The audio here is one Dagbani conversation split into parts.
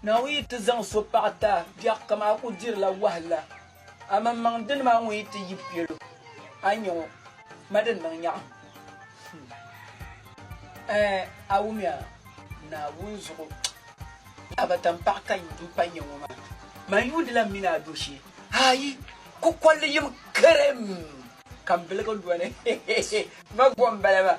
Naawuni yi ti zaŋ so paɣ ti a biɛɣu kam a ku dirila wahala. A maŋmaŋ dini maa ŋun yi ti yi piɛl o, a nya o ma di niŋ nyaɣim. Ɛɛ, a wumya? Naawuni zuɣu a ba taŋpaɣu ka n pa nya ŋɔ maa, man yuundila m mini a do shee. Aayi! Kukɔlli yim kerem ka m biligi lɔni. Ma gom bala maa.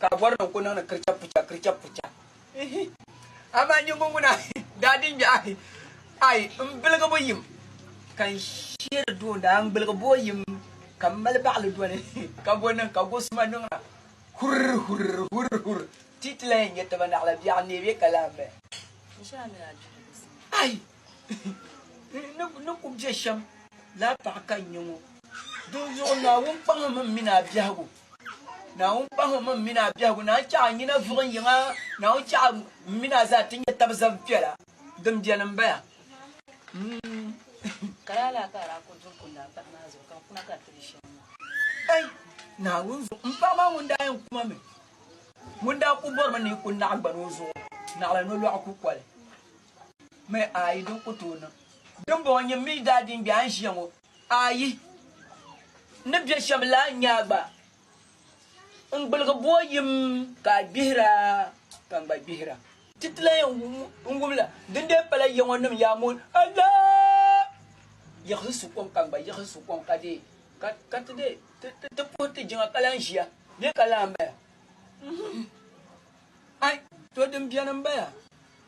Ka a bɔri ni n ku niŋdi kiricha pucha, kiricha pucha. Ihi! Amaa nyingbo ŋuna daa di n-gbi ahi, Ai, m biligi bo yim ka n sheeri dooni, a n gbiligi bo yim ka m mali baɣili doli ka bo niŋ ka gosuma niŋna. Hurr! Hurr! Hurr! Hurr! Ti ti lan yɛn nya taba naɣila biɛɣu n-neei bɛ ka lan bɛ. Ai! N ni ku bɛ shɛm laa paɣa ka n-nyɛ ŋɔ, dinzuɣu Naawuni kpaŋmi m mini a biɛhigu. Naawuni kpahim m mini a biɛhigu naan chɛ a nyina vuɣim yiŋ a, Naawuni chɛ a m mini a zaa ti nyɛ tab zab piɛla din beni m-baya. Ɛy, Naawuni zuɣu, m paɣ maa ŋun daa yɛn ku ma mi, ŋun daa ku bɔrimi ni yi ku naɣigbana o zuɣu, naɣila nolɔɣu kukoli mi a yi din ku tooi niŋ. Dimbɔŋɔ nyini mi daa di n-gbe a ni ʒiya ŋɔ. Ayi, n ni bɛ shɛb la a nyaa gba. N gbuligi bo yim ka a gbihir a, ka n gba gbihir a. Ti ti lan yɛn wum la, dindee pala ya ŋɔ nim yaa mooi alaha yiɣisi su kom ka n gba yiɣisi su kom ka deei, ka ti deei ti puhi ti jiŋa ka lan ʒiya bee ka lan baya. Ai! To din beni m-bala,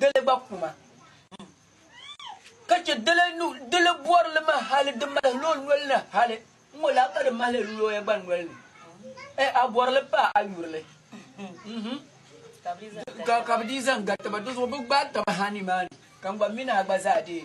Dili gba kuma. Ka chɛ dili bɔri li ma hali di mahil o noli ni hali ŋɔ laa ka di mahil lɔya gba noli ni. A bɔri li pa a yuri li. Mhm. Ka bi dii zaŋ gari taba, di zuɣu bi gbaai taba ha nimaani, ka n gba mini a gba zaa dee.